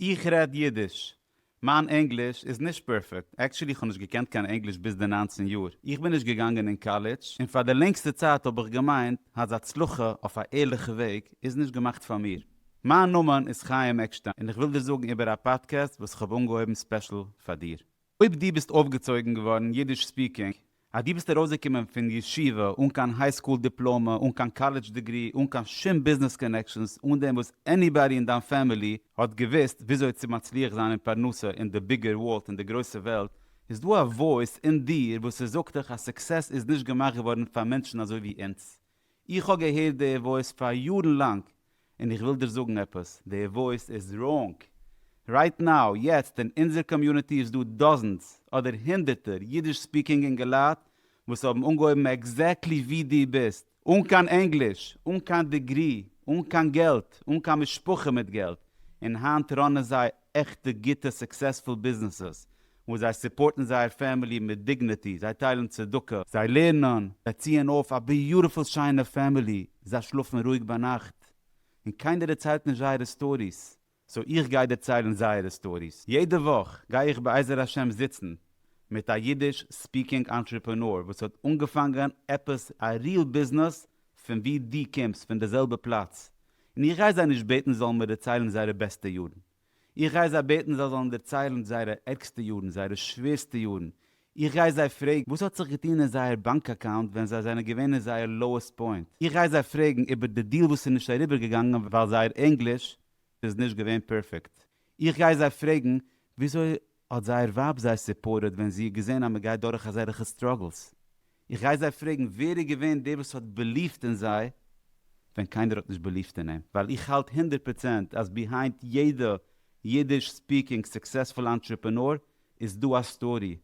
איך רעד אידיש. מיין ענגליש איז נישט פערפעקט, עקטשולי איך האב נישט געקענט קיין ענגליש ביז די נײַנצן יאר, איך בין נישט געגאנגען אין קאלעדזש, און פאר די לענגסטע צייט האב איך געמיינט אז הצלחה אויף א ערליכע וועג איז נישט געמאכט פאר מיר. מיין נאמען איז חיים עקשטיין און איך וויל דיר זאגן איבער א פאדקעסט וואס איך האב אנגעהויבן ספעשל פאר דיר. אויב דו ביסט אויפגעצויגן געווארן אידיש ספיקינג, אז דו ביסט ארויסגעקומען פון ישיבה אן קיין היי סקול דיפלאמע, אן קיין קאלעדזש דעגרי, אן קיין שום ביזנעס קאנעקשאנס, אן דעם וואס עניבאדי אין דיין פעמילי האט געוואוסט וויאזוי צו מצליח זיין אין פרנסה אין די ביגער ווארלד, אין די גרויסע וועלט, איז דא א וואויס אין דיר וואס ס'זאגט דיך אז סוקסעס איז נישט געמאכט געווארן פאר מענטשן אזוי ווי אונז, איך האב געהערט די וואויס פאר יארן לאנג און איך וויל דיר זאגן עפעס, די וואויס איז ראונג! רייט נאו, יעצט, אין אונזער קאמיוניטי איז דא דאזענס, אדער הונדערטער, אידיש ספיקינג אינגעלייט וואס האבן אנגעהויבן עקזעקטלי ווי דו ביסט, אן קיין ענגליש, אן קיין דעגרי, אן קיין געלט, אן קיין משפחה מיט געלט, און היינט ראנען זיי עכטע גוטע סוקסעספול ביזנעסעס וואו זיי סופארטן זייער פעמילי מיט דיגנעטי, זיי טיילן צדקה, זיי לערנען, זיי ציען אויף א ביוטיפול שיינע פעמילי, זיי שלאפן רואיג ביינאכט, און קיינער דערציילט נישט זייערע סטאריס, סאו איך גיי דערציילן זייערע סטאריס, יעדע וואך גיי איך בעזר השם זיצן מיט א אידיש ספיקינג אנטרעפענאר וואס האט אנגעפאנגען עפעס א ריעל ביזנעס פון ווי דו קומסט פון די זעלבע פלאץ און איך גיי זיי נישט בעטן זיי זאלן מיר דערציילן זייערע בעסטע יארן, איך גיי זיי בעטן זיי זאלן דערציילן זייערע ערגסטע יארן, זייערע שווערסטע יארן, איך גיי זיי פרעגן וואס האט זיך געטון אין זייער באנק אקאונט ווען זיי זענען געווען אין זייער לאועסט פוינט, איך גיי זיי פרעגן איבער די דיעל וואס איז נישט אריבער געגאנגען ווייל זייער ענגליש איז נישט געווען פערפעקט, איך גיי זיי פרעגן וויאזוי האט זייער ווייב זיי סופארטעד ווען זי האט געזען אז מען גייט דורך אזעלעכע סטראגלס? איך גיי זיי פרעגן ווער איז געווען דער וואס האט בעליווט אין זיי ווען קיינער האט נישט בעליווט אין אים, ווייל איך האלט הונדערט פראצענט אז ביהיינד יעדע אידיש ספיקינג סוקסעספול אנטרעפענאר איז דא א סטארי,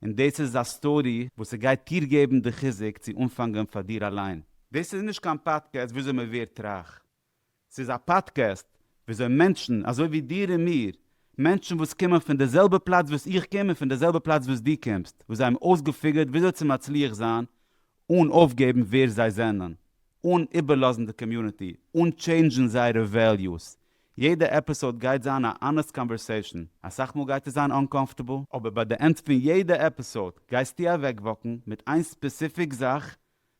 און דאס איז א סטארי וואס ס'גייט דיר געבן די חיזוק צו אנפאנגען פאר דיר אליין. דאס איז נישט קיין פאדקעסט וויאזוי מען ווערט רייך. ס'איז א פאדקעסט וויאזוי מענטשן אזוי ווי דיר און מיר, מענטשן וואס קומען פון די זעלבע פלאץ וואס איך קום און פון די זעלבע פלאץ וואס דו קומסט, וואס זיי האבן אויסגעפיגערט וויאזוי צו מצליח זיין אן אויפגעבן ווער זיי זענען, אן איבערלאזן די קאמיוניטי, אן טשעינדזשן זייערע וועליוס. יעדע עפיסאוד גייט זיין א אנעסט קאנווערסעישן, אסאך מאל גייט עס זיין אנקאמפארטעבל, אבער ביי די ענד פון יעדע עפיסאוד גייסטו אוועקוואקן מיט איין ספעסיפיק זאך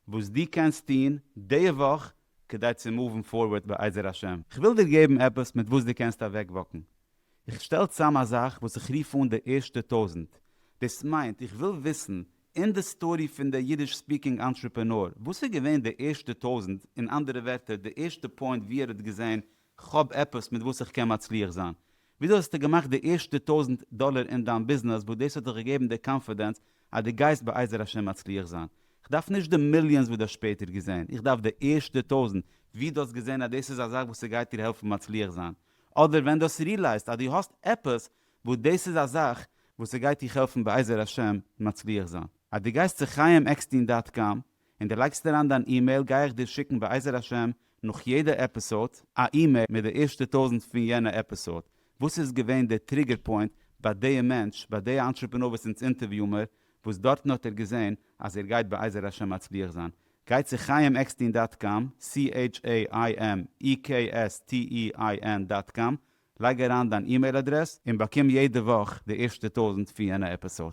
וואס דו קענסט טון די וואך כדי צו מאוון פארווערד בעזר השם. כ'וויל דיר געבן עפעס מיט וואס דו קענסט אוועקוואקן. איך שטעל צאם א זאך וואס איך רוף אן די ערשטע טויזנט. דאס מיינט איך וויל וויסן אין די סטארי פון די אידיש ספיקינג אנטרעפענאר וואס איז געווען די ערשטע טויזנט, אין אנדערע ווערטער די ערשטע פוינט וואו ער האט געזען כ'האב עפעס מיט וואס איך קען מצליח זיין. וויאזוי האסטו געמאכט די ערשטע טויזנט דאלער אין דיין ביזנעס וואס דאס האט דיך געגעבן די קאנפידענס אז דו גייסט בעזר השם מצליח זיין? איך דארף נישט די מיליאנס וואס דו האסט שפעטער געזען, איך דארף די ערשטע טויזנט, ווי דו האסט געזען אז דאס איז א זאך וואס ס'גייט דיר העלפן מצליח זיין, אדער ווען דו האסט ריעלייזט אז דו האסט עפעס וואס דאס איז א זאך וואס ס'גייט דיך העלפן בעזר השם מצליח זיין. אז דו גייסט צו חייםעקסטין דאט קאם און די לייגסט אריין דיין אימעיל גיי איך דיר שיקן בעזר השם נאך יעדע עפיסאד א אימעיל מיט די ערשטע טויזנט פון יענע עפיסאד וואס איז געווען די טריגער פוינט ביי דיע מענטש ביי דיע אנטרעפענור וואס אונז אינטערוויאו מיר וואס דארטן האט ער געזען אז ער גייט בעזר השם מצליח זיין גיי צו חיים עקסטין דאט קאם CHAIMEKSTEIN דאט קאם לייג אריין דיין אימעיל אדרעס און באקום יעדע וואך די ערשטע טויזנט פון יענע עפיסאד.